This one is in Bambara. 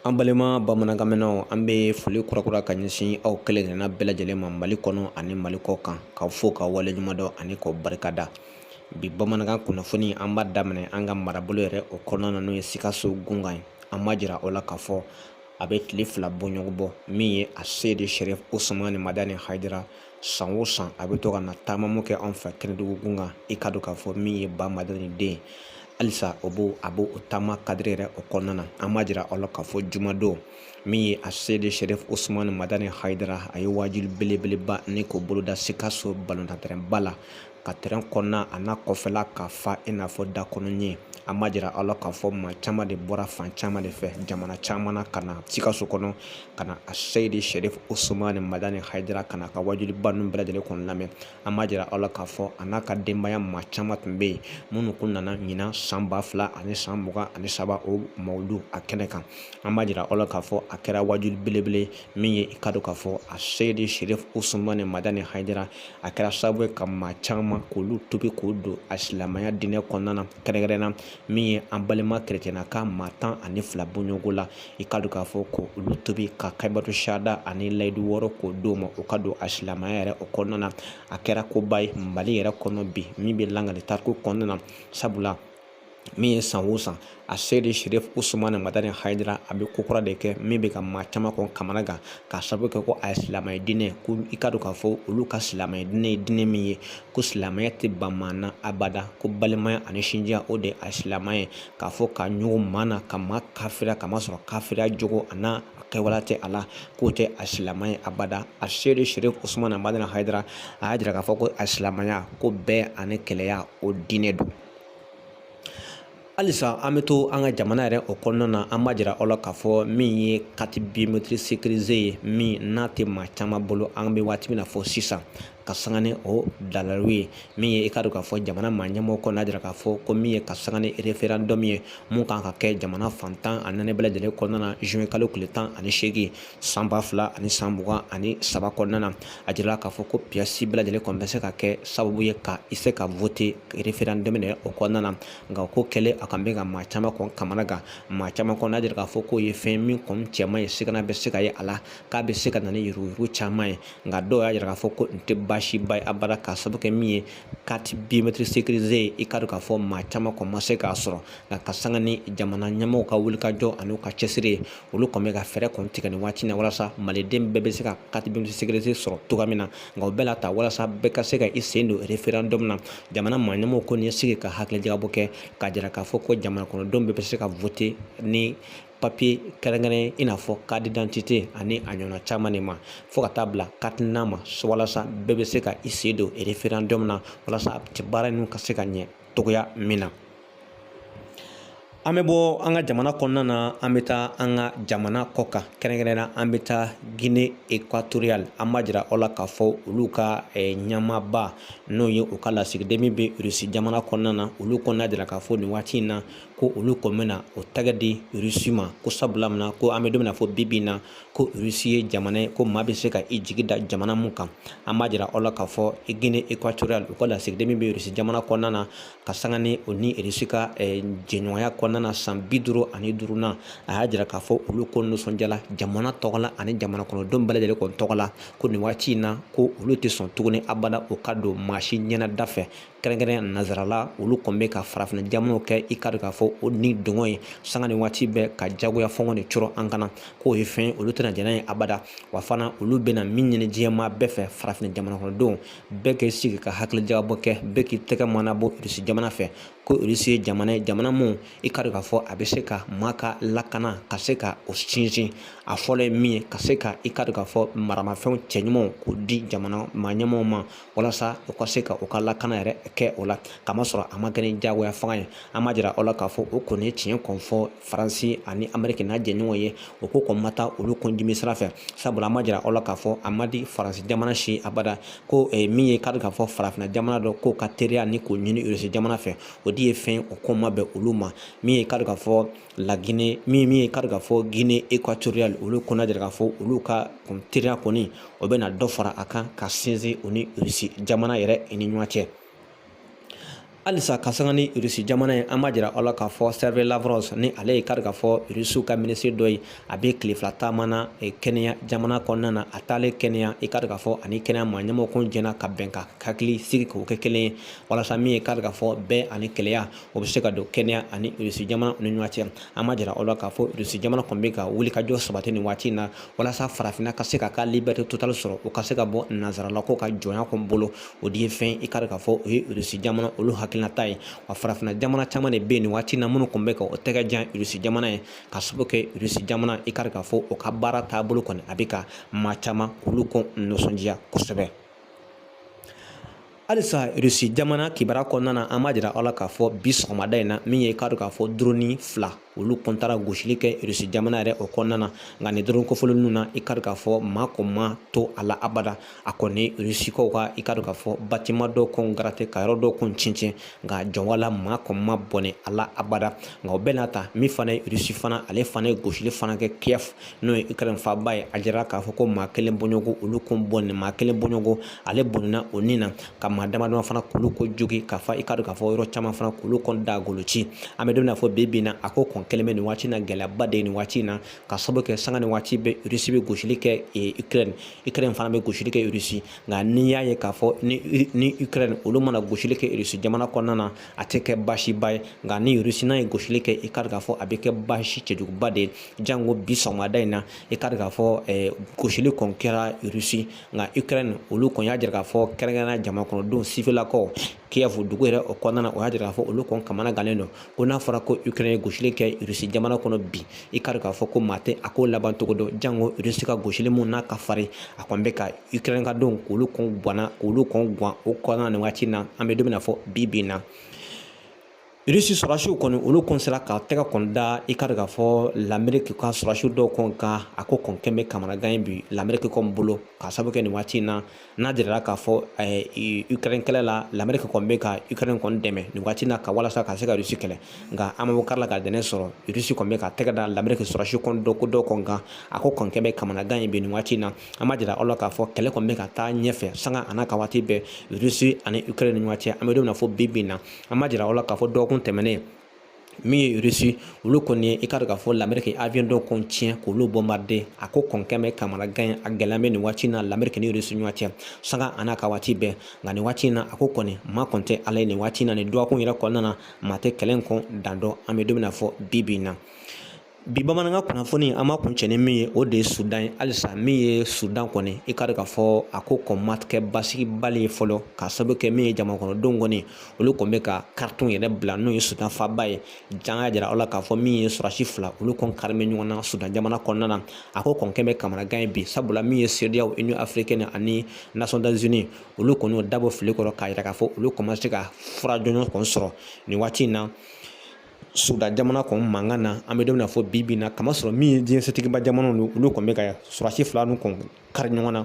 an balima bamanankanmɛnnaw an bɛ foli kurakura ka ɲɛsin aw kelen kelenna bɛɛ lajɛlen ma mali kɔnɔ ani mali kɔ kan k'aw fo k'aw waleɲuman dɔn ani k'aw barika da bi bamanankan kunnafoni an b'a daminɛ an ka marabolo yɛrɛ o kɔnɔna na n'o ye sikaso gunkan ye an b'a jira aw la k'a fɔ a bɛ tile fila bɔɲɔgɔn bɔ min ye a seyidi sɛrifu usumani madani hayidara san o san a bɛ to ka na taamamu kɛ anw fɛ kɛnɛdugu gun kan i ka dɔn k'a fɔ min ye ba madani den halisa o b'o a b'o o taama kadiri yɛrɛ o kɔnɔna na an b'a jira aw la k'a fɔ jumadon min ye a seyidi sɛrifu usumani madani hayidara a ye wajuli belebeleba ni k'o boloda sikaso balontantɛrɛnba la ka tɛrɛn kɔnɔna a n'a kɔfɛla ka fa i n'a fɔ da kɔnɔ ɲɛ an b'a jira aw la k'a fɔ maa caman de bɔra fan caman de fɛ jamana caman na ka na sikaso kɔnɔ ka na a seyidi sɛrifu usumani madani hayidara ka n'a ka wajuliba ninnu bɛɛ lajɛlen kɔni lamɛn an b'a jira aw la k'a fɔ a n'a ka denbaya maa caman tun bɛ yen minnu tun nana ɲinan san ba fila ani san mugan ani saba o mawulidu a kɛnɛ kan an b'a jira aw la k'a fɔ a kɛra wajuli belebele min ye i ka dɔn k'a fɔ a seyidi sɛrifu usumani madani hayidara a kɛra sababu ye ka maa caman k'olu tubi k'o don a silamɛya diinɛ kɔnɔna na kɛrɛnkɛrɛnna min ye an balima kerecɛnna ka maa tan ani fila bɔɲɔgɔnko la i ka dɔn k'a fɔ ko olu tubi ka kalimatu sahada ani layidu wɔɔrɔ k'o d'u ma u ka don a silamɛya yɛrɛ o kɔnɔna na a kɛra koba ye mali yɛrɛ kɔnɔ bi min bɛ lakali tariku kɔnɔna na sabula min ye san o san a seyidi sɛrifu usumani madani hayidara a bɛ ko kura de kɛ min bɛ ka maa caman kɔni kamana gan k'a sababu kɛ ko a ye silamɛya diinɛ ko i ka dɔn k'a fɔ olu ka silamɛya diinɛ ye diinɛ min ye ko silamɛya tɛ ban maa na abada ko balimaya ani sinjiya o de ye a silamɛya ye k'a fɔ ka ɲugun maa na ka maa kafiriya ka masɔrɔ kafiriya jogo a n'a kɛwale tɛ a la k'o tɛ a silamɛ ye abada a seyidi sɛrifu usumani madani hayidara a y'a jira k'a fɔ ko a silamɛya ko bɛn ani kelenya o diinɛ don halisa an bɛ to an ka jamana yɛrɛ o kɔnɔna na an b'a jira aw la k'a fɔ min ye carte biométrique sécurisée ye min n'a tɛ maa caman bolo an bɛ waati min na fɔ sisan ka sanga ni o daliluw ye min ye i ka dɔn k'a fɔ jamana maa ɲɛmɔgɔ kɔni y'a jira k'a fɔ ko min ye ka sanga ni référendum ye min kan ka kɛ jamana fan tan ani naani bɛɛ lajɛlen kɔnɔna na juin kalo tile tan ani seegin san ba fila ani san mugan ani saba kɔnɔna na a jirala k'a fɔ ko pièce bɛɛ lajɛlen kɔni bɛ se ka kɛ sababu ye ka i se ka voter référendum yɛrɛ o kɔnɔna na nka ko kɛlen a kan bɛ ka maa caman kɔni kamana gan maa caman kɔni y'a jira k'a fɔ k'o ye fɛn min kɔni cɛ man ɲi sigana bɛ se ka ye a la k'a bɛ se ka na ni yuruguyurugu caman ye nka dɔw y'a jira k'a fɔ ko nin tɛ baasiba ye abada k'a sababu kɛ min ye carte biométrique sécurisée ye i ka dɔn k'a fɔ maa caman kɔni ma se k'a sɔrɔ nka ka sanga ni jamana ɲɛmɔgɔw ka wulikajɔ an'u ka cɛsiri ye olu kɔni bɛ ka fɛɛrɛ kɔni tigɛ nin waati na walasa maliden bɛɛ bɛ se ka carte biométrique sécurisée sɔrɔ cogoya min na nka o bɛɛ la ta walasa bɛɛ ka se ka i sen don referendum na jamana maaɲɛmɔgɔw kɔni ye sigi ka hakilijagabɔ kɛ k'a jira k'a fɔ ko jamana kɔnɔdenw bɛɛ bɛ se ka vote ni papiye kɛrɛnkɛrɛn ye i n'a fɔ carte d'identité ani a ɲɔgɔnna caman de ma fo ka taa bila carte nina ma walasa bɛɛ bɛ se ka i sen don referendum na walasa baara ninnu ka se ka ɲɛ cogoya min na an bɛ bɔ an ka jamana kɔnɔna na an bɛ taa an ka jamana kɔ kan kɛrɛnkɛrɛnnenya an bɛ taa gine ekwatoriyali an b'a jira aw la k'a fɔ olu ka ɲɛmaaba n'o ye u ka lasigiden min bɛ irisi jamana kɔnɔna na olu kɔni y'a jira k'a fɔ nin waati in na ko olu kɔni bɛna o tɛgɛ di irisi ma ko sabula min na ko an bɛ don min na fɔ bi bi in na ko irisi ye jamana ye ko maa bɛ se ka i jigi da jamana min kan an b'a jira aw la k'a fɔ gine ekwatoriyali u ka lasigiden min bɛ irisi jamana kɔnɔna na ka sanga ni o ni irisi ka eh, jɛɲɔgɔnya kɔnɔna na san bi duuru ani duuru na a y'a jira k'a fɔ olu kɔni nisɔndiyala jamana tɔgɔ la ani jamana kɔnɔdenw bɛɛ lajɛlen kɔni tɔgɔ la ko nin waati in na ko olu tɛ sɔn tuguni abada o ka don maa si ɲɛnada fɛ kɛrɛnkɛrɛn nansarala olu kɔni bɛ ka farafina jamanaw kɛ i k'a dɔn k'a fɔ o ni dɔngɔ ye sanga ni waati bɛɛ ka jagoya fanga de cɔrɔ an kan na k'o ye fɛn olu tɛna jɛn n'a ye abada wa fana olu bɛna min ɲini diɲɛmaa bɛɛ fɛ farafina jamana kɔnɔdenw bɛɛ k'i sigi ka hakilijagabɔ kɛ bɛɛ k'i tɛgɛ mɔnɔbɔ irisi jamana fɛ ko irisi ye jamana ye jamana min i k'a dɔn k'a fɔ a bɛ se ka maa ka lakana ka se ka o sinsin a fɔlɔ ye min ye ka se ka i k'a dɔn k'a fɔ maramafɛnw cɛɲumanw k'o di jamana maa ɲɛmaaw ma walasa u ka se ka u ka lakana yɛrɛ kɛ o la k'a masɔrɔ a ma kɛ ni jagoya fanga ye an b'a jira aw la k'a fɔ o kɔni ye tiɲɛ kɔni fɔ faransi ani ameriki n'a jɛɲɔgɔn ye o ko kɔni ma taa olu kɔndimi sira fɛ sabula an b'a jira aw la k'a fɔ a man di faransi jamana si abada ko eh, min ye i k'a dɔn k'a fɔ farafina jamana dɔ k'o ka teriya ni k'o ɲini irisi jamana fɛ o de ye fɛn o ko ma bɛn olu ma min ye i k'a dɔn k'a fɔ lagine min min ye i k'a dɔn k'a fɔ guinée équatoriale olu kɔni y'a jira k'a fɔ olu ka teriya kɔni o bɛna dɔ fara a kan ka sinsin o ni irisi jamana yɛrɛ ni ɲɔgɔn cɛ halisa ka sanga ni irisi jamana ye an b'a jira aw la k'a fɔ serge lavrov ni ale ye i k'a dɔn k'a fɔ irisiw ka minisiri dɔ ye a be tile fila taama na eh, keniya jamana kɔnɔna na a taalen keniya i k'a dɔn k'a fɔ a ni keniya maa ɲɛmɔgɔ kɔni jɛnna ka bɛn ka hakili sigi k'o kɛ kelen ye walasa min ye i k'a dɔn k'a fɔ bɛn ani kelenya o be se ka don keniya ani irisi jamana ni ɲɔgɔn cɛ an b'a jira aw la k'a fɔ irisi jamana kɔni be ka wulikajɔ sabati nin waati na walasa farafina ka se ka ka liberté totale sɔrɔ o ka se ka bɔ nansaralakaw ka jɔnya kɔni bolo o de ye fɛn i k'a dɔn k'a fɔ o ye irisi jamana olu hakilinata ye wa farafina jamana caman de bɛ yen nin waati na minnu kɔni bɛ ka o tɛgɛ jan irisi jamana ye ka sababu kɛ irisi jamana i k'a dɔn k'a fɔ o ka baara taabolo kɔni a bɛ ka maa caman k'olu kɔni nisɔndiya kosɛbɛ halisa irisi jamana kibaruya kɔnɔna na an b'a jira aw la k'a fɔ bi sɔgɔmada in na min ye i k'a dɔn k'a fɔ doroni fila olu kɔn taara gosili kɛ rusi jamana yɛrɛ o kɔnɔna na nka nin drone kofɔlen ninnu na i k'a dɔn k'a fɔ maa kɔn ma to a la abada a kɔni rusikaw ka i k'a dɔn k'a fɔ bâtiment dɔw kɔn garate ka yɔrɔ dɔw kɔn cincin nka jɔnwala maa kɔn ma bɔnɛ a la abada nka o bɛɛ n'a ta min fana ye rusi fana ale fana ye gosili fana kɛ kiyɛf n'o ye ukraine faaba ye a jira k'a fɔ ko maa kelen bɔɲɔgɔn olu kɔn bɔnɛ maa kelen bɔɲɔgɔn ale bɔnɛna o ni na ka maa damadama fana k'olu kɔn jogin k'a fɔ i k'a dɔn k'a fɔ yɔrɔ caman fana k'olu kɔni da golo ci an bɛ don min na fɔ bi bi in na a ko kɔn kɛlen bɛ nin waati na gɛlɛyaba de ye nin waati in na ka sababu kɛ sanga ni waati bɛɛ rusi bɛ gosili kɛ ukraine ukraine fana bɛ gosili kɛ rusi nka n'i y'a ye k'a fɔ ni ukraine olu mana gosili kɛ rusi jamana kɔnɔna na a tɛ kɛ baasiba ye nka ni rusi n'a ye gosili kɛ i k'a dɔn k'a fɔ a bɛ kɛ baasi cɛjuguba de ye jango bi sɔgɔmada in na i k'a dɔn k'a fɔ gosili kɔn kɛra rusi nka ukraine olu kɔni y'a jira k'a fɔ kɛrɛnkɛrɛnna jamana kɔnɔdenw sifelakaw kiev dugu yɛrɛ o kɔnɔna na o y'a jira k'a fɔ olu kɔni kamanagannen don ko n'a fɔra ko ukraine ye gosili kɛ rusi jamana kɔnɔ bi i k'a dɔn k'a fɔ ko maa tɛ a ko laban cogo dɔn jango rusi ka gosili mun n'a ka farin a kɔni bɛ ka ukraine ka denw k'olu kɔnɔgwanna k'olu kɔnɔgwan o kɔnɔna na nin waati na an bɛ don min na fɔ bi bi in na Rusi sɔrɔsiw kɔni olu kɔn sera ka tɛgɛ kɔni da i k'a dɔn k'a fɔ lamerike ka sɔrɔsiw dɔw kɔn kan a ko kɔn kɛlen bɛ kamanagan ye bi lamerike kɔn bolo ka sababu kɛ nin waati in na n'a jirara k'a fɔ ukraine kɛlɛ la lamerike kɔn bɛ ka ukraine kɔn dɛmɛ nin waati na ka walasa ka se ka rusi kɛlɛ nka an kari la ka dɛmɛ sɔrɔ rusi kɔn bɛ ka tɛgɛ da lamerike sɔrɔsiw kɔn dɔw kɔn dɔw kɔn kan a ko kɔn kɛlen bɛ kamanagan ye bi nin waati in na an b'a jira aw la k'a fɔ kɛlɛ kɔn bɛ ka taa ɲɛfɛ sanga a n'a ka waati bɛɛ rusi ani ukraine ni ɲɔgɔn cɛ an bɛ don min na fɔ bi bi in na an b'a jira aw la k'a fɔ dɔgɔkun tɛmɛnen min ye rusi olu kɔni ye i k'a dɔn k'a fɔ lamerike avion dɔw kɔni tiɲɛ k'olu bɔnbarde a ko kɔn kɛlen bɛ kamanagan ye a gɛlɛya bɛ nin waati na lamerike ni rusi ɲɔgɔn cɛ sanga a n'a ka waati bɛɛ nka nin waati na a ko kɔni maa kɔni tɛ ala ye nin waati na nin dɔgɔkun yɛrɛ kɔnɔna na maa tɛ kɛlɛ in kɔn dan dɔn an bɛ don min na fɔ bi bi in na bi bamanankan kunnafoni an b'a kuncɛ ni min ye o de ye sudan ye halisa min ye sudan kɔni i k'a dɔn k'a fɔ a ko kɔn ma kɛ basigibali ye fɔlɔ ka sababu kɛ min ye jamanakɔnɔdenw kɔni olu kɔni bɛ ka khartoum yɛrɛ bila n'o ye sudan faaba ye jango an y'a jira aw la k'a fɔ min ye sɔrɔsi fila olu kɔn kari bɛ ɲɔgɔn na sudan jamana kɔnɔna na a ko kɔn kɛlen bɛ kamanagan ye bi sabula min ye cedeao union africaine ani nations unies olu kɔni y'o da bɔ fini kɔrɔ k'a jira k'a fɔ olu kɔn ma se ka fura jɔnjɔn kɔn sɔrɔ nin waati in na sudan jamana kɔni mankan na an bɛ don min na fɔ bi bi in na k'a masɔrɔ min ye diɲɛ setigiba jamanaw olu kɔni bɛ ka sɔrɔsi fila ninnu kɔni kari ɲɔgɔn na